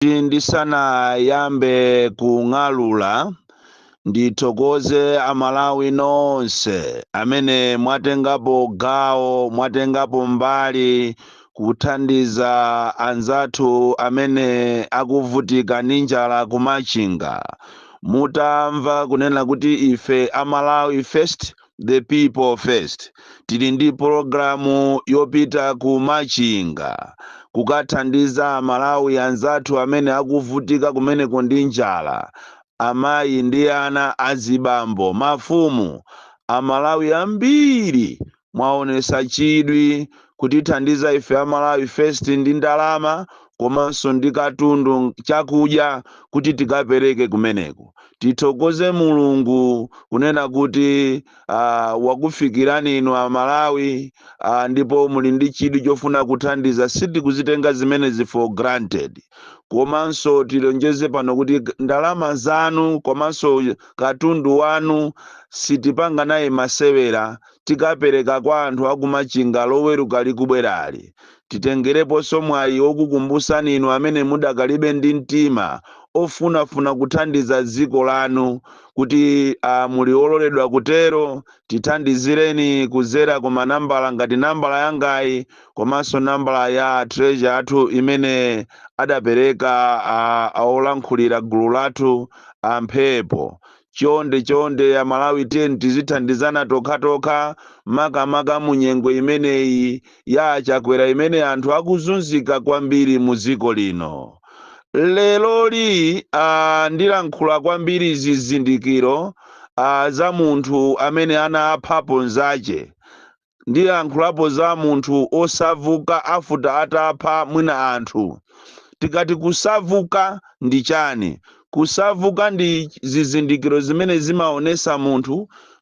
kuti ndisanayambe kung'alula ndithokoze amalawi nonse amene mwatengapo gawo mwatengapo mbali kuthandiza anzathu amene akuvutika ndi njala kumachinga mutamva kunena kuti ife a malawi first the people first tili ndi pologalamu yopita ku machinga kukathandiza amalawi anzathu amene akuvutika kumeneko ndi njala amayi ndi ana azibambo mafumu amalawi ambiri mwaonesa chidwi kutithandiza ife a malawi first ndi ndalama komanso ndi katundu chakudya kuti tikapereke kumeneko Tithokoze Mulungu kunena kuti ah, wakufikirani inu Amalawi ah, ndipo muli ndi chidwi chofuna kuthandiza. Sitikuzitenga zimenezi for granted. Komanso tilonjeze pano kuti g- ndalama zanu komanso katundu wanu sitipanga naye masewera tikapereka kwa anthu akumachinga loweruka likubwerali. Titengereponso mwayi wokukumbusani inu amene mudakali be ndi mtima ofunafuna kuthandiza dziko lanu kuti a muli ololedwa kutero, tithandizireni kudzera ku manambala ngati nambala yangayi komanso nambala ya a Treasurer athu imene adapereka a a olankhulira gulu lathu a Mphepo Chonde chonde a Malawi tiyeni tizithandizana tokhatokha makamaka mu nyengo imeneyi ya a Chakwera imene anthu akuzunzika kwambiri mu dziko lino. Leroli a ndilankhula kwambiri zizindikiro a za munthu amene anaphapo nzache. ndilankhulapo za munthu osavuka afuta atapha mwina anthu tikati kusavuka ndi chani kusavuka ndi zizindikiro zimene zimaonesa munthu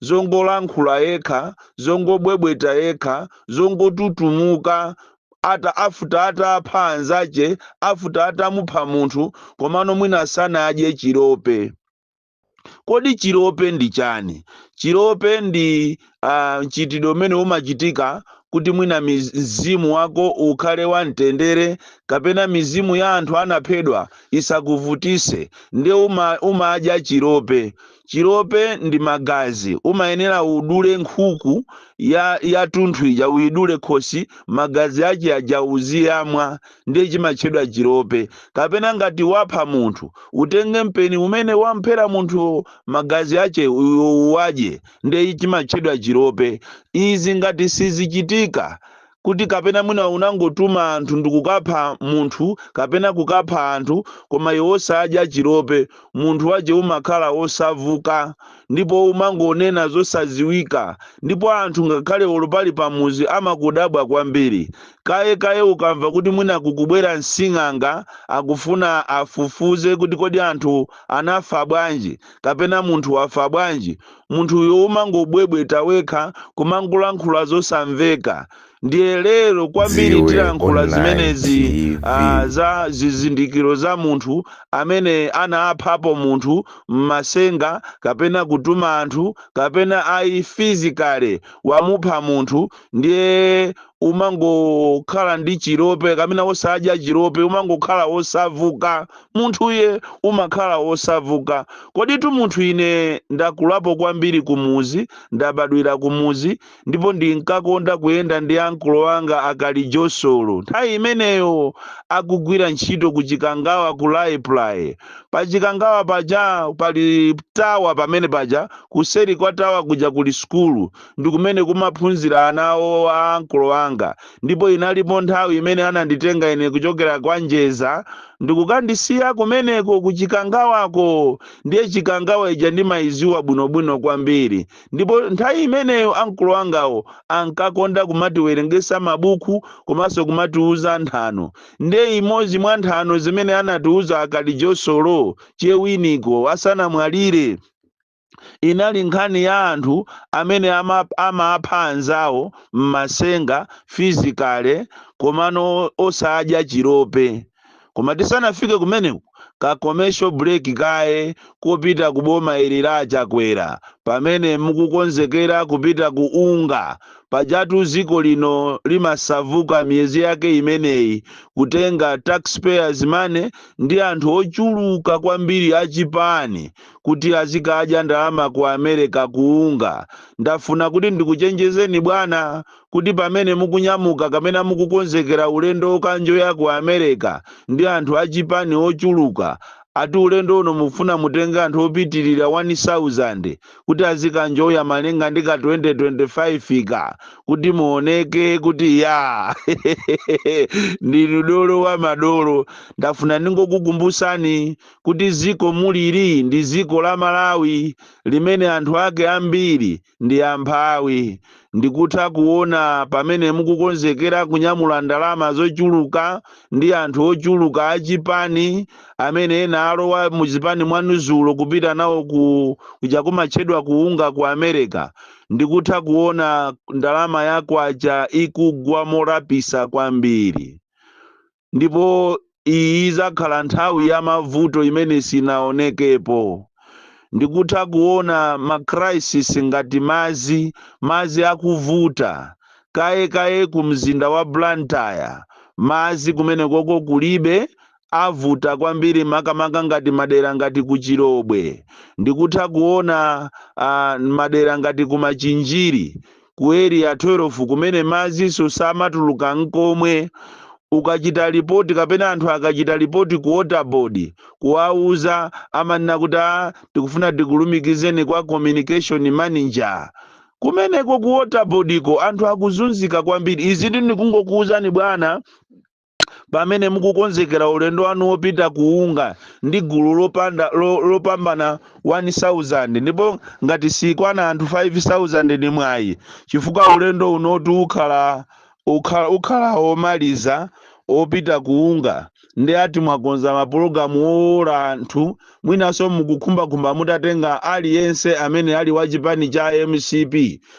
zongolankhula yekha zongobwebweta yekha zongotutumuka ata afuta atapha anzache afuta atamupha munthu komano mwina sanadye chilope Kodi chilope ndi chani? Chilope ndi ah, mchitidwe umene umachitika kuti mwina miz- mzimu wako ukhale wamtendere kapena mizimu ya anthu anaphedwa isakuvutise nde uma, umadya chilope. Chilope ndi magazi, umayenera udule nkhuku ya yatunthu ija uyidule khosi magazi ache aja uziyamwa ndiye chimatchedwa chilope kapena ngati wapha munthu utenge mpeni umene wamphera munthu magazi ache u- uwadye ndiye chimatchedwa chilope izi ngati sizichitika kuti kapena mwina unangotuma anthu ndikukapha munthu kapena kukapha anthu koma iwe osadya chilope munthu wache umakhala osavuka ndipo umangonena zosaziwika ndipo anthu ngakhale olo pali pamuzi amakudabwa kwambiri Kaye kaye ukamva kuti mwina kukubwera msing'anga akufuna afufuze kuti kodi anthu anafa bwanji kapena munthu wafa bwanji, munthuyo umangobwebweta wekha kumangolankhula zosamveka. Ndiye lero kwambiri tilankhula zimenezi ah, za zizindikiro za munthu amene anaphapo munthu m'masenga kapena kutuma anthu kapena ayi physically wamupha munthu ndiye umangokhala ndi chilope kapena osadya chilope umangokhala osavuka munthuye umakhala osavuka koditu munthu ine ndakulapo kwambiri kumuzi ndabadwira kumuzi ndipo ndinkakonda kuyenda ndi ankolo anga a Kalijosolo nthawi imeneyo akugwira ntchito ku Chikangawa ku Raiply pa Chikangawa paja pali tawa pamene paja kuseri kwa tawa kuja kuli sukulu ndi kumene kumaphunzira ana awo a ankolo anga, ndipo inalipo nthawi imene ananditenga ine kuchokera kwa Njeza ndi kukandisiya kumeneko ku Chikangawako. Ndiye Chikangawa ija ndimaidziwa bwinobwino kwambiri, ndipo nthawi imeneyo ankolo angawo ankakonda kumatiwerengetsa mabuku komanso kumatiuza nthano. Ndiye imodzi mwa nthano zimene anatiuza a Kalijosolo, Che Winiko, asanamwalire, inali nkhani ya anthu amene ama, amapha anzawo m'masenga physically komano osadya chilope koma tisanafike kumeneko ka commercial break kaye kopita ku boma ili la a Chakwera pamene mukukonzekera kupita ku UNGA pajatu dziko lino limasavuka miyezi yake imeneyi kutenga taxpayers money ndi anthu ochuluka kwambiri achipani kuti azikadya ndalama ku America ku UNGA. Ndafuna kuti ndikuchenjezeni bwana kuti pamene mukunyamuka kapena mukukonzekera ulendo wokanjoya ku America ndi anthu a chipani ochuluka, ati ulendo uno mufuna mutenge anthu opitilira 1000 kuti azikanjoya malinga ndi ka 2025 ka kuti muoneke kuti yaa ndinu dolo wa madolo. Ndafuna ndingokukumbusani kuti ziko mulili ndi ziko la Malawi limene anthu ake ambiri ndi amphawi. Ndikutha kuona pamene mukukonzekera kunyamula ndalama zochuluka ndi anthu ochuluka a chipani amene ena alowa mu chipani mwanu zulo kupita nawo kuja kumatchedwa ku UNGA ku America. Ndikutha kuona ndalama ya kwacha ikugwa molapisa kwambiri. Ndipo iyi izakhala nthawi ya mavuto imene sinaonekepo. Ndikutha kuona ma crisis ngati madzi, madzi akuvuta. Kaye kaye ku mzinda wa Blantyre, madzi kumenekoko kulibe, avuta kwambiri makamaka ngati madera ngati ku Chilobwe. Ndikutha kuona, ah, madera ngati ku Machinjiri, ku Area 12 kumene madzinso samatuluka n'komwe. Ukachita lipoti kapena anthu akachita lipoti ku Water Board kuwauza, amanena kuti a tikufuna tikulumikizeni kwa Communication Manager. Kumeneko ku Water Board'ko anthu akuzunzika kwambiri. Izi ndikungokuuzani bwana pamene mukukonzekera ulendo wanu wopita ku UNGA ndi gulu lopambana 1000 ndipo ngati sikwana anthu 5000 ndi mwayi chifukwa ulendo unotu ukhala omaliza opita ku UNGA ndiye ati mwakonza mapulogalamu wowola anthu mwinanso mukukhumbakhumba mutatenga aliyense amene ali wa chipani cha mcp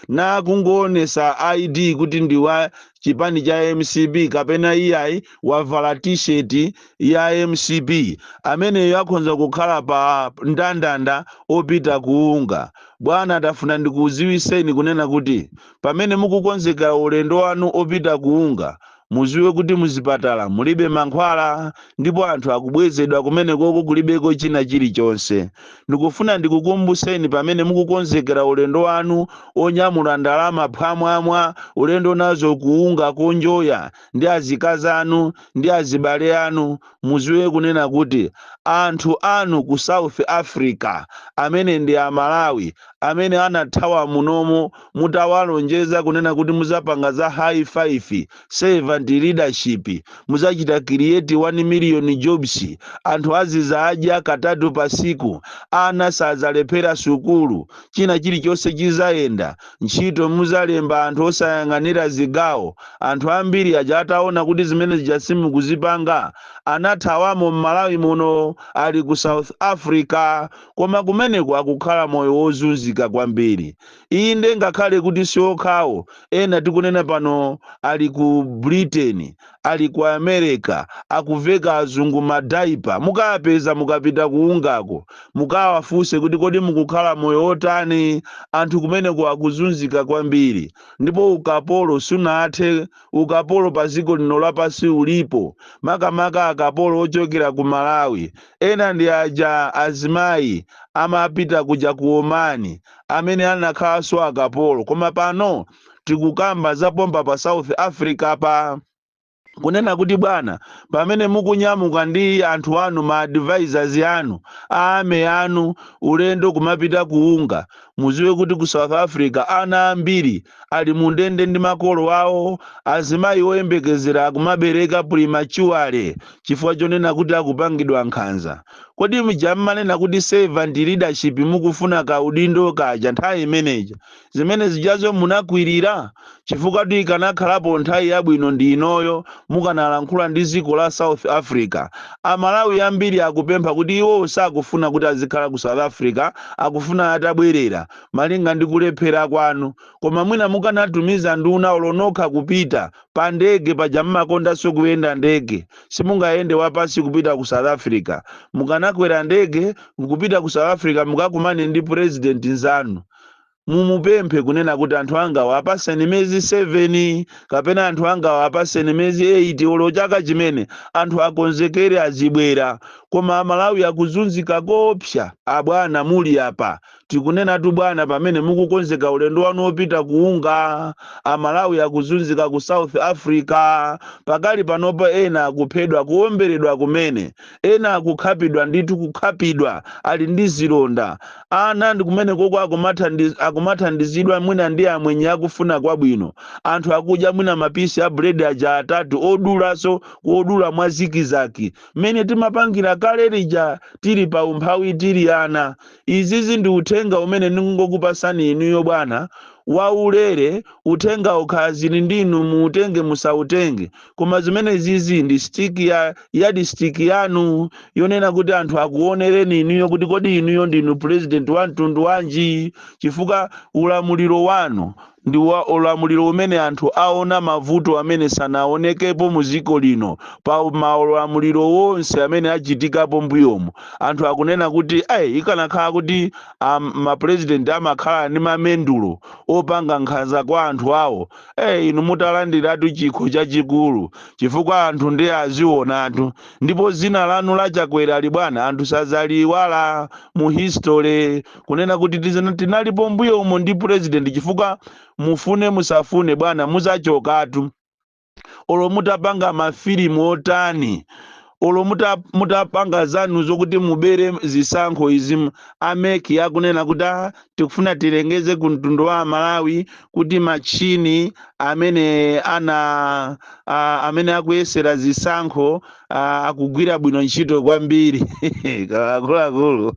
nakungoonesa id kuti ndi wa chipani cha mcp kapena iyayi wavala t-shirt ya mcp ameneyo akhonza kukhala pa ndandanda opita ku UNGA bwana tafuna ndikuziwiseni kunena kuti pamene mukukonzekera ulendo wanu opita ku UNGA muziwe kuti muzipatala mulibe mankhwala ndipo anthu akubwezedwa kumenekoko kulibeko china chilichonse Ndikufuna ndikukumbuseni pamene mukukonzekera ulendo wanu onyamula ndalama phwamwamwa ulendo nazo ku UNGA konjoya ndi azikazi anu ndi azibale anu muziwe kunena kuti anthu anu ku South Africa amene ndi amalawi amene anathawa munomo mutawalonjeza kunena kuti muzapanga za high 5 Servant leadership, muzachita create 1 million jobs, anthu azizadya katatu pa siku, ana sazalephera sukulu, china chilichonse chizayenda, ntchito muzalemba anthu osayang'anira zigawo, anthu ambiri aja ataona kuti zimene zija simukuzipanga anathawamo m'Malawi muno ali ku South Africa koma kumeneko akukhala moyo wozunzika kwambiri. Inde, ngakhale kuti si okhawo, ena tikunena pano ali ku Britain, ali ku America, akuveka azungu ma diaper. Mukawapeza mukapita ku UNGA-ko, mukawafunse kuti kodi mukukhala moyo wotani? Anthu kumeneko akuzunzika kwambiri. Ndipo ukapolo sunathe, ukapolo pa dziko lino lapansi ulipo, makamaka akapolo ochokera ku Malawi. Ena ndi aja azimayi amapita kuja ku Omani. amene anakhalanso akapolo koma pano tikukamba za pompa pa south africa pa kunena kuti bwana pamene mukunyamuka ndi anthu anu ma advisors anu a ME anu ulendo kumapita ku UNGA muziwe kuti ku south africa ana ambiri ali mu ndende ndi makolo awo azimayi oyembekezera akumabereka prematurely chifukwa chonena kuti akupangidwa nkhanza Kodi mja mmanena kuti servant leadership mukufuna ka udindo kaja nthawi imeneija zimene zijazo munakwilira? Chifukwatu ikanakhalapo nthawi yabwino ndi inoyo mukanalankhula ndi ziko la South Africa. A Malawi ambiri akupempha kuti iwowo sakufuna kuti azikhala ku South Africa akufuna atabwerera malinga ndi kulephera kwanu. Koma mwina mukanatumiza nduna olo nokha kupita pa ndege paja mmakondanso kuyenda ndege simungayende wapansi kupita ku south africa mukanakwera ndege nkupita ku south africa mukakumane ndi president nzanu mumupemphe kunena kuti anthu angawo apaseni miyezi 7 kapena anthu angawo apaseni miyezi 8 olo chaka chimene anthu akonzekere azibwera koma amalawi akuzunzika kopsa abwana muli apa Tikunenatu bwana pamene mukukonzeka ulendo wanu opita ku UNGA, a Malawi akuzunzika ku South Africa, pakali panopa ena akuphedwa, kuomberedwa kumene, ena akukhapidwa ndithu kukhapidwa ali ndi zilonda, ena ndi kumenekoko akumathandiz, akumathandizidwa mwina ndi amwenye akufuna kwabwino, anthu akudya mwina ma piece a bread aja atatu odulaso kodula mwa zikizaki mmene timapangira kale lija tili pa umphawi tili ana. Izizi ndi uthenga umene ndingokupasani inuyo bwana, waulere, uthengawu kaya zili ndi inu muutenge musautenge, koma zimene izizi ndi stick, yardstick yanu yonena kuti anthu akuonereni inuyo kuti kodi inuyo ndinu president wa mtundu wanji chifukwa ulamuliro wanu ndi ulamuliro umene anthu aona mavuto amene sanaonekepo mu dziko lino pa maulamuliro wonse amene achitikapo mbuyomu anthu akunena kuti ai ikanakhala kuti um, ma president amakhala ndi mamendulo opanga nkhanza kwa anthu awo eh inu mukanalandiratu chikho chachikulu chifukwa anthu nde azionatu ndipo dzina lanu la Chakwerali bwana anthu sadzaliiwala mu history kunena kuti tinalipo mbuyo umo ndi president chifukwa mufune musafune bwana muzachokatu olo mutapanga mafilimu otani olo mutapanga zanu zokuti mubere zisankho izi a MEC akunena kuti "Ah, tikufuna tilengeze ku mtundu wa amalawi kuti machini amene ana a, amene akuyesera zisankho a, akugwira bwino ntchito kwambiri akuluakulu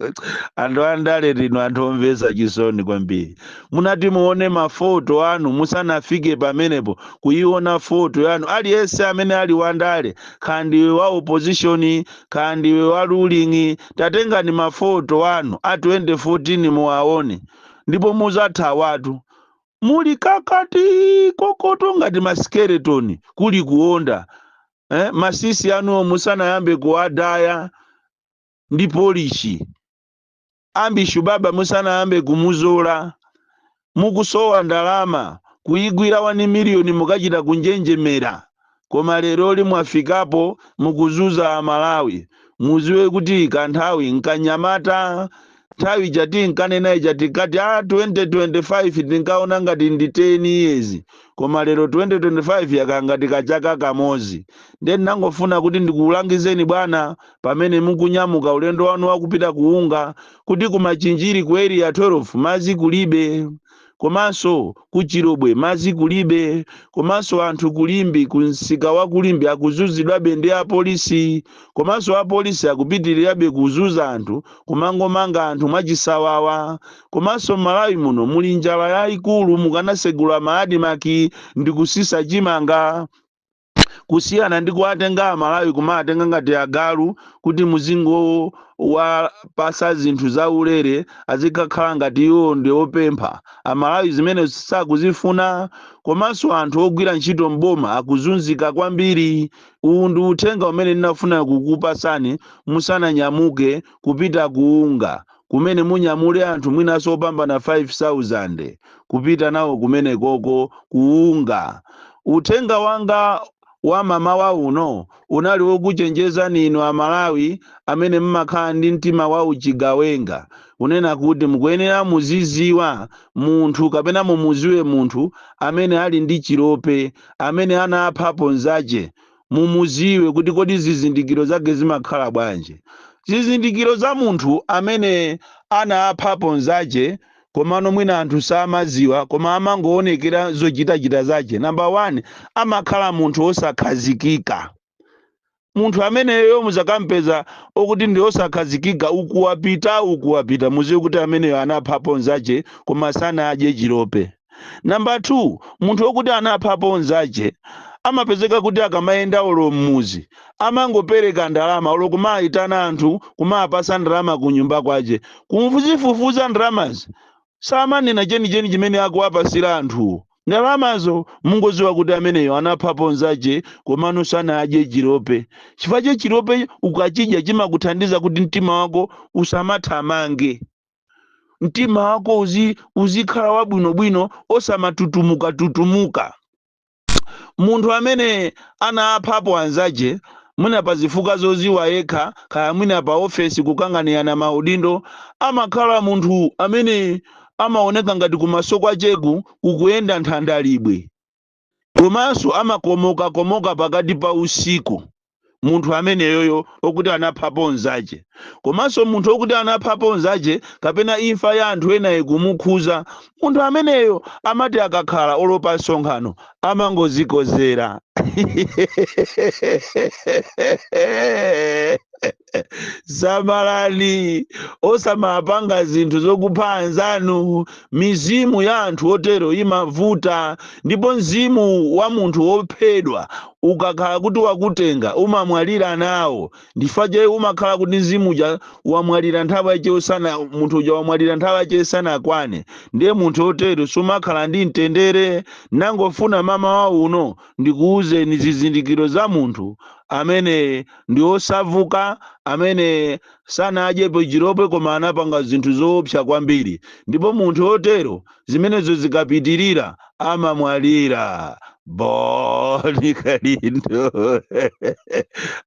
anthu andale inu anthu omvesa chisoni kwambiri munati muone mafoto anu musanafike pamenepo kuiona foto yanu aliyense amene ali wandale kaya ndiwe wa opposition kaya ndiwe wa ruling tatengani mafoto anu a 2014 muwaone ndipo muzathawatu. Muli kakati kokoto ngati ma skeleton kuli kuonda. Eh, matsitsi anuwo musanayambe kuwadaya ndi polishi. Ambishu baba musanayambe kumuzola. Mukusowa ndalama kuigwira 1 miliyoni mukachita kunjenjemera. koma leroli mwafikapo mukuzuza a Malawi muziwe kuti kanthawi nkanyamata nthawi ija tinkanena ija tikati a 2025 tinkaona ngati ndi 10 years koma lero 2025 yakhala ngati kachaka kamozi nde ndinangofuna kuti ndikulangizeni bwana pamene mukunyamuka ulendo wanu wakupita ku UNGA kuti ku Machinjiri ku area 12 mazi kulibe komanso ku Chilobwe mazi kulibe komanso anthu ku Limbe ku msika wa ku Limbe akuzunzidwabe ndi apolisi komanso apolisi akupitirirabe kuzuza anthu kumangomanga anthu mwachisawawa komanso Malawi muno muli njala yayikulu mukanasegula ma ADMARC ndikusisa chimanga kusiyana ndi kuwatenga amalawi kumawatenga ngati agalu kuti muzingowapasa zinthu zaulere azikakhala ngati iwo ndi opempha amalawi zimene sakuzifuna komanso anthu ogwira ntchito m'boma akuzunzika kwambiri uwu ndi uthenga umene ndinafuna kukupasani musananyamuke kupita ku UNGA kumene munyamule anthu mwinanso opambana 5000 kupita nawo kumenekoko ku UNGA. Uthenga wanga wa mamawa uno unali wokuchenjezani inu a Malawi amene mmakhala ndi mtima wa uchigawenga kunena kuti mukuyenera muziziwa munthu kapena mumuziwe munthu amene ali ndi chilope amene anaphapo nzache mumuziwe kuti kodi zizindikiro zake zimakhala bwanji zizindikiro za munthu amene anaphapo nzache komano mwina anthu samaziwa koma amangoonekera zochitachita zache namba 1 amakhala munthu osakhazikika munthu ameneyo muzakampeza okuti ndi osakhazikika ukuwapita ukuwapita muziwe kuti ameneyo anaphapo nzache koma sanadye chilope Number 2, munthu okuti anaphapo nzache amapezeka kuti akamayenda olo mmuzi amangopereka ndalama olo kumaitana anthu kumapasa ndalama kunyumba kwache kumfuzifufuza ndalamazo samanena chenicheni chimene akuwapasira anthuwo ndalamazo mungoziwa kuti ameneyo anaphapo nzache komano sanadye chilope chifukwa che chilope ukachidya chimakuthandiza kuti mtima wako usamathamange. mtima wako uzi, uzikhala wabwinobwino osamatutumuka tutumuka munthu amene anaphapo anzache mwina pa zifukwa zoziwa yekha kaya mwina pa ofesi kukanganirana maudindo amakhala munthu amene amaoneka ngati kumaso kwacheku kukuyenda nthandalibwe komanso amakomokakomoka pakati pa usiku munthu ameneyoyo okuti anaphapo nzache komanso munthu okuti anaphapo nzache kapena imfa ya anthu ena ikumukhuza munthu ameneyo amati akakhala olo pa msonkhano amangozikozera samalani osamapanga zinthu zokupha anzanu mizimu ya anthu otero imavuta ndipo mzimu wa munthu wophedwa ukakhala kuti wakutenga umamwalira nawo chifukwa umakhala kuti mzimu uja wamwalira nthawi yache isana munthu uja wamwalira nthawi yache isanakwane ndiye munthu otero sumakhala ndi mtendere nangofuna mamawa uno ndikuwuzeni zizindikiro za munthu amene ndi osavuka amene sanadyepo chilope koma anapanga zinthu zoopsa kwambiri ndipo munthu otero zimenezo zikapitirira amamwalira Bon Kalindo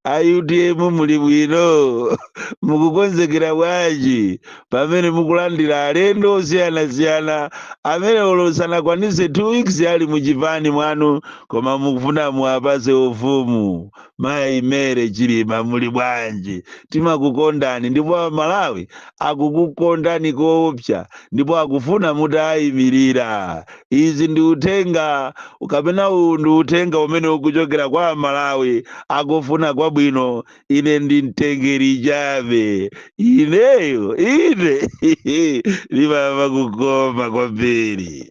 a UTM muli bwino mukukonzekera bwanji pamene mukulandira alendo osiyanasiyana amene olo sanakwanise two weeks ali muchipani mwanu koma mukufuna muwapase ufumu mayi Mary Chilima muli bwanji timakukondani ndipo amalawi akukukondani koopsa ndipo akufuna mutaimirira izi ndi uthenga kapena uwu ndi uthenga umene ukuchokera kwa amalawi akufuna kwabwino ine ndi mtengeri chabe ineyo ine ndimamva kukoma kwambiri